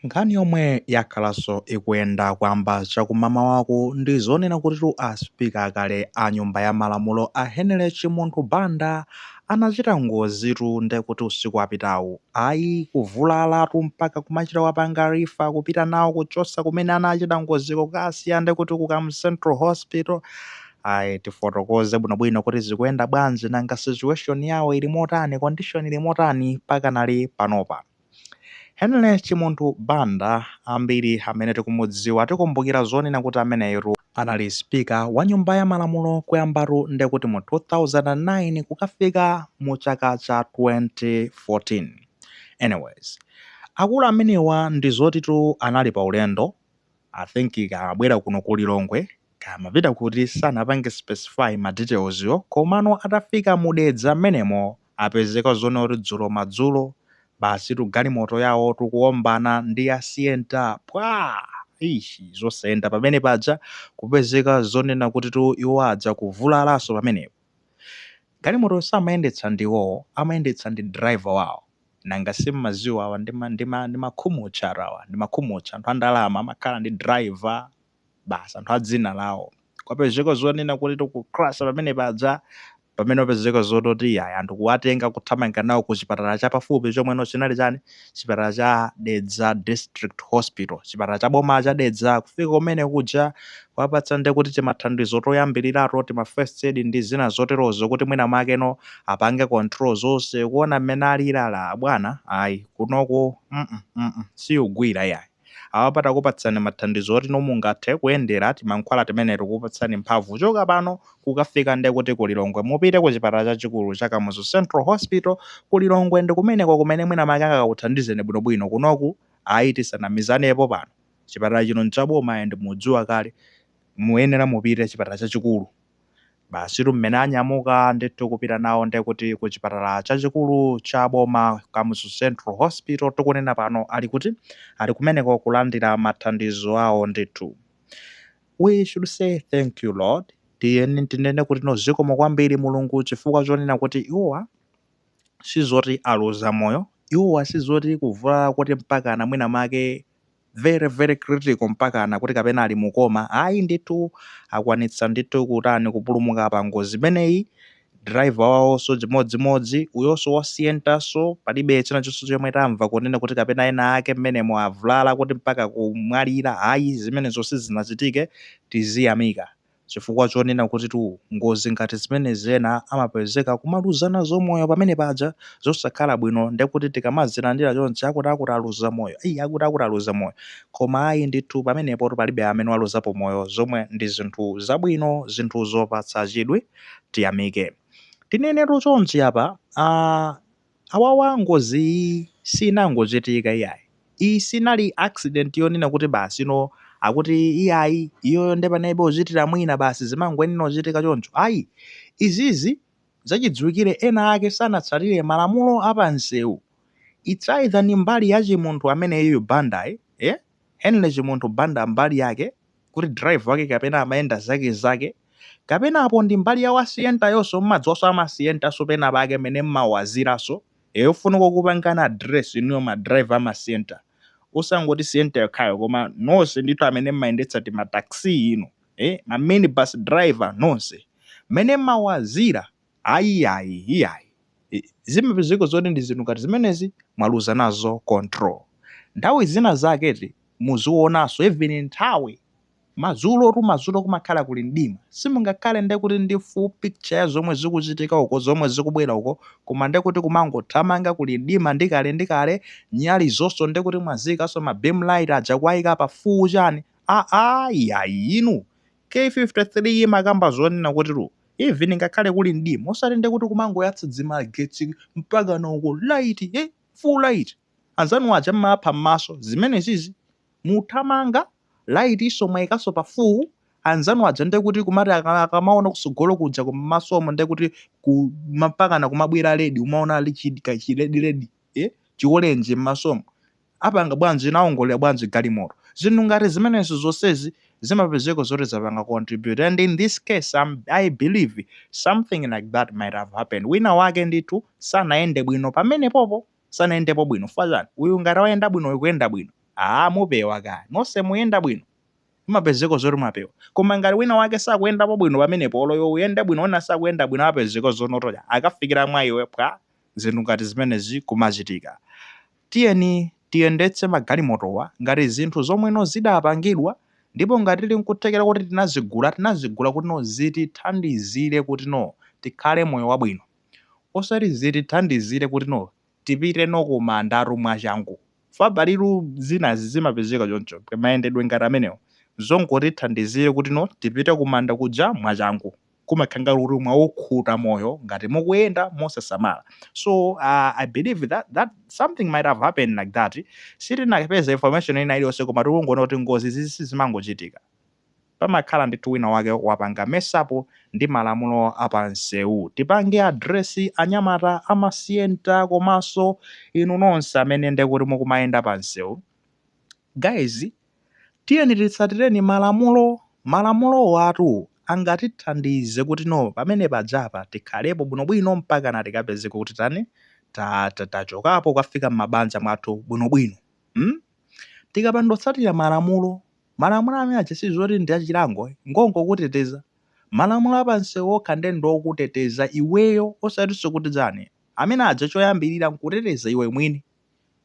Nkhani yomwe yakhalaso ikuyenda kuyamba chakumamawaku ndi zonena kutitu a Speaker akale a nyumba ya malamulo a Henry Chimunthu Banda anachita ngozitu ndekuti usiku wapitawu ayi kuvulalatu mpaka kumachita kuwapanga refer kupita nawo kuchosa kumene anachita ngoziko kukasiya ndekuti ku Kamuzu Central Hospital ayi tifotokoze bwinobwino kuti zikuyenda bwanji nanga situation yawo ili motani condition ili motani pakanali panopa. Henry Chimunthu Banda ambiri amene tikumudziwa tikumbukira zonena kuti ameneyotu anali speaker wa nyumba ya malamulo kuyambatu nde kuti mu 2009 kukafika mu chaka cha 2014 anyways akulu amenewa ndi zotitu anali pa ulendo I think kaya amabwera kuno ku Lilongwe kaya amapita kuti sanapange specify ma details yo komano atafika mu Dedza mmenemo apezeka zonena kuti dzulo madzulo basitu galimoto yawotu kuwombana ndi ya sienta pwaa! eish zosayenda pamene paja kupezeka zonena kutitu iwo adza kuvulalanso pamenepo galimotoyo samayendetsa ndi iwowo amayendetsa ndi driver wawo nanga simmaziwa awa ndi ma ndi ma ndi makhumutchatu awa ndi makhumutcha anthu andalama amakhala ndi driver basi anthu a dzina lawo. Kwapezeka zonena kuti tu kucrasha pamene paja, pamene wapezeka zototi iyayi anthu kuwatenga kuthamanga nawo ku chipatala cha pafupi chomweno chinali chani, chipatala cha Dedza District Hospital, chipatala cha boma cha Dedza. Kufika kumene kuja kuwapatsa nde kuti timathandizo toyambilirato, tima first aid ndi zina zoterozo kuti mwina mwakeno apange control zonse. Kuona mmene aliri ah abwana, ayi kunoku mm mm sikugwira iyayi. Apapa takupatsani mathandizo oti no mungathe kuyendera timankhwala timene tikupatsani mphamvu kuchoka pano kukafika nde kuti ku Lilongwe. Mupite ku chipatala chachikulu cha Kamuzu Central Hospital ku Lilongwe ndi kumeneko kumene mwina mwake angakakuthandizeni bwinobwino. Kunoku ayi tisanamizanepo pano. Chipatala chino n'chaboma and mukudziwa kale. Muyenera mupite chipatala chachikulu. Basitu mmene anyamuka ndithu kupita nawo nde kuti ku chipatala chachikulu cha boma, Kamuzu Central Hospital, tikunena pano ali kuti? Ali kumeneko kulandira mathandizo awo ndithu. We should say thank you Lord, tiyeni tinene kutino zikomo kwambiri Mulungu chifukwa chonena kuti iwowa sizoti aluza moyo, iwowa sizoti kuvulala koti mpakana mwina mwake very very critical mpakana kuti kapena ali mu coma ayi ndithu akwanitsa ndithu kutani kupulumuka pa ngozi imeneyi driver wawoso chimodzimodzi uyoso wasiyentaso palibe china chonse chomwe tamva kunena kuti kapena ena ake mmenemo avulala kuti mpaka kumwalira ayi zimenezo sizinachitike tiziyamika chifukwa chonena kutitu ngozi ngati zimenezi ena amapezeka kumaluzana nazo moyo pamene paja zosakhala bwino ndekuti tikamazilandira chonchi akuti akuti aluza moyo ayi akuti akuti aluza moyo koma ayi ndithu pamenepo palibe amene waluzapo moyo zomwe ndi zinthu zabwino zinthu zopatsa chidwi tiyamike tinenetu chonchi apa uh, Awawa ngozi iyi siinangochitika iyayi. Iyi sinali accident yonena kuti basi you know akuti iyayi iyoyo nde panalibe ochitira mwina basi zimangoyenera uchitika choncho. Ayi. Izizi zachidziwikire ena ake sanatsatire malamulo a pamsewu. It's either ndi mbali ya Chimunthu ameneyuyu Bandayi, eh? Henry Chimunthu Banda mbali yake kuti driver wake kapena amayenda zake zake kapena apo ndi mbali ya wasiyentayoso mmadziwaso amasiyentaso pena pake mene mmawazilaso eyofunika kukupangani address inuyo ma driver amasiyenta osangoti siyenta yokhayo koma nonse ndithu amene mmayendetsa tima taxi inu eh ma minibus driver nonse mene mmawazila Ayi ayi iyayi zimapezeka zoti ndi zinthu ngati zimenezi mwaluza nazo control. Nthawi zina zake eti muzionanso even nthawi madzulotu madzulo kumakhala kuli mdima simungakhale nde kuti ndi full picture ya zomwe zikuchitika uko zomwe zikubwera uko koma nde kuti kumangothamanga kuli mdima ndi kale ndi kale nyali zonse nde kuti mwaziikanso ma beam light aja kuwaika pa full chani aa iyayi inu K53 imakamba zonena kuti lu even ngakhale kuli mdima osati ndekuti kumangoyatsa dzimagetsi mpakana uko light eh full light anzanu aja mmawapha mmaso zimenezizi muthamanga light so mwaikaso pa full anzanu aja ndekuti kumati akamaona kusogolo kuja ku mmasomo ndekuti ku mpakana kumabwera ledi umaona ali chi ka chiledi ledi ee chikolenje mmasomo apanga bwanji naongolera bwanji galimoto zinthu ngati zimenezo zonsezi zimapezeka zoti zapanga contribute and in this case I believe something like that might have happened wina wake ndithu sanayende bwino pamenepopo sanayendepo bwino chifukwa chani uyu ngati wayenda bwino uyu kuyenda bwino aa mupewa kaya nonse muyenda bwino mumapezeka zoti mwapewa koma ngati wina wake sakuyendapo bwino pamenepo olo iwe uyende bwino wina sakuyenda bwino apezeka zonotoya akafikira mwa iwe pwa zinthu ngati zimenezi kumachitika. Tiyeni tiyendetse magalimotowa ngati zinthu zomwe no zidapangidwa ndipo ngati tili nkuthekera kuti tinazigula, tinazigula kuti no zitithandizire kuti no tikhale moyo wabwino. Osati zitithandizire kuti no tipite no kumandatu mwachangu. Chifukwa palitu zinazi zimapezeka choncho, mayendedwe ngati amenewo, zongotithandizira kuti no tipite kumanda kuja mwachangu. kumakhala ngati kuti mwaukhuta moyo ngati mukuyenda mosasamala so uh, i believe that, that something might have happened like that sitinapeza information ina iliyonse koma tikungoona kuti ngozi sizimangochitika pamakhala ndithu wina wake wapanga mess up ndi malamulo apansewu tipange address anyamata amasiyenta komanso inu nonse amene ndekuti mukumayenda pansewu guys Tiyeni titsatireni malamulo. Malamulowatu angatithandize kuti no pamene pajapa tikhalepo bwinobwino mpakana tikapezeka kuti tani, ta, ta, tachokapo kukafika m'mabanja mwathu bwinobwino. Hmm? Tikapanda kutsatira malamulo, malamulo amene aja si zoti ndi achilango, eh, ngongokuteteza. Malamulo a pamsewu okha ndiye ndi okuteteza iweyo, osatinso kuti chani, amene aja choyambirira nkuteteza iwe mwini.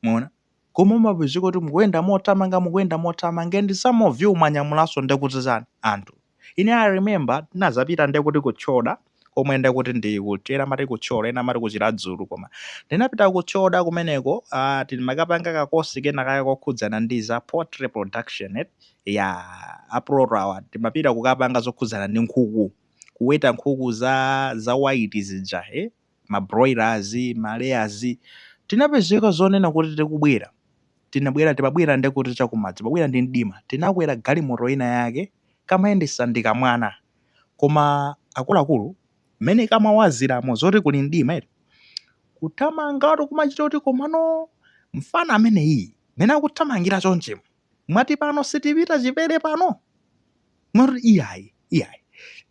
Mwaona? Koma umapezeka kuti mukuyenda mothamanga mukuyenda mothamanga and some of you mwanyamulanso ndekuti chani anthu ine I remember tinazapita ndekuti ku Tchoda komwe ndekuti ndi kuja ena amati ku Thyolo ena amati ku Chiradzulu koma ndinapita ku Tchoda kumeneko ah timakapanga ka course kena kake kokhudzana ndi za poultry production eti ya aproto awa timapita kukapanga zokhudzana ndi nkhuku kuweta nkhuku za za white zija eh ma broilers, ma layers, tinapezeka zonena kuti tikubwera, tinabwera, timabwera nde kuti chakumadzulo, timabwera ndi mdima, tinakwera galimoto ina yake, kamayendesa ndi kamwana, koma akuluakulu mmene kamawaziramo zoti kuli mdima eti, kuthamangatu kumachita kuti komano mfana ameneyi mmene akuthamangira chonchimu, mwati pano sitipita chipere pano moti iyayi iyayi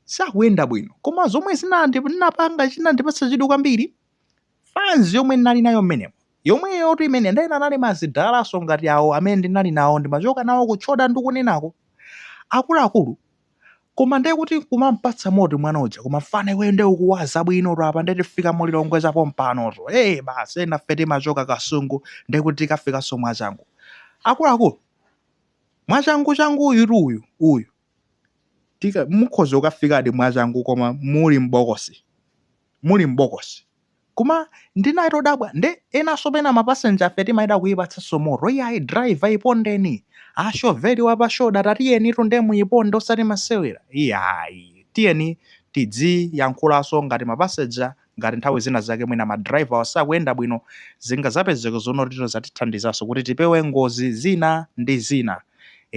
sakuyenda bwino koma zomwe zinandipanga chinandipatsa chidwi kwambiri fanzi yomwe ndinali nayo mmenemo yomweyotu imene ndayena anali madalaso ngati awo amene ndinali nawo ndimachoka nawo kutchoda ndikunenako akuluakulu Koma nde kuti kumampatsa moto mwana uja koma mfana iweyo nde ukuwaza bwinotu apa nde tifika mu Lilongwe za pompanotu ee basi enafe timachoka Kasungu nde kuti tikafikanso mwachangu. Akuluakulu mwachanguchanguyutu uyu uyu tika mukhoza kukafikadi mwachangu koma muli m'bokosi muli m'bokosi. Koma ndinali todabwa nde enaso pena ma passenger afe timayamba kuyipatsaso moto iyayi driver yipondeni a chauffeur awa pa shoda tatiyenitu nde muyiponde osati masewera iyayi tiyeni tidzi yankhulaso ngati ma passenger ngati nthawi zina zake mwina ma driver wa asakuyenda bwino zingazapezeke zonoti zatithandizaso kuti tipewe ngozi zina ndi zina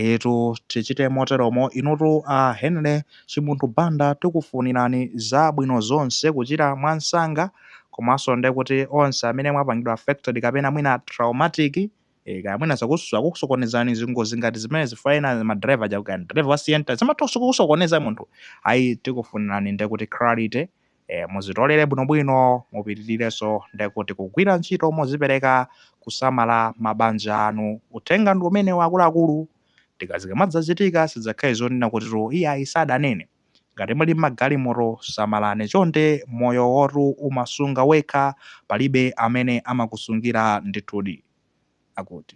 Eetu tichite moteromo inutu a Henry Chimunthu Banda tikufunirani zabwino zonse kuchira mwansanga komanso nde kuti onse amene mwapangidwa affected kapena mwina traumatic ee kaya mwina zakusokonezani zingozi ngati zimenezi fwa ena ma driver aja kaya ndi driver wa sienta zimatha kusokoneza munthu ayi tikufunirani nde kuti clarity e muzitolere bwinobwino mupitirirenso ndekuti kugwira ntchito mozipereka kusamala mabanja anu uthenga ndi umenewo akuluakulu tika zikamadzachitika zisadzakhale zonena kutitu iyayi sadanene ngati muli mmagalimoto samalani chonde moyowotu umasunga wekha palibe amene amakusungira ndithudi akuti.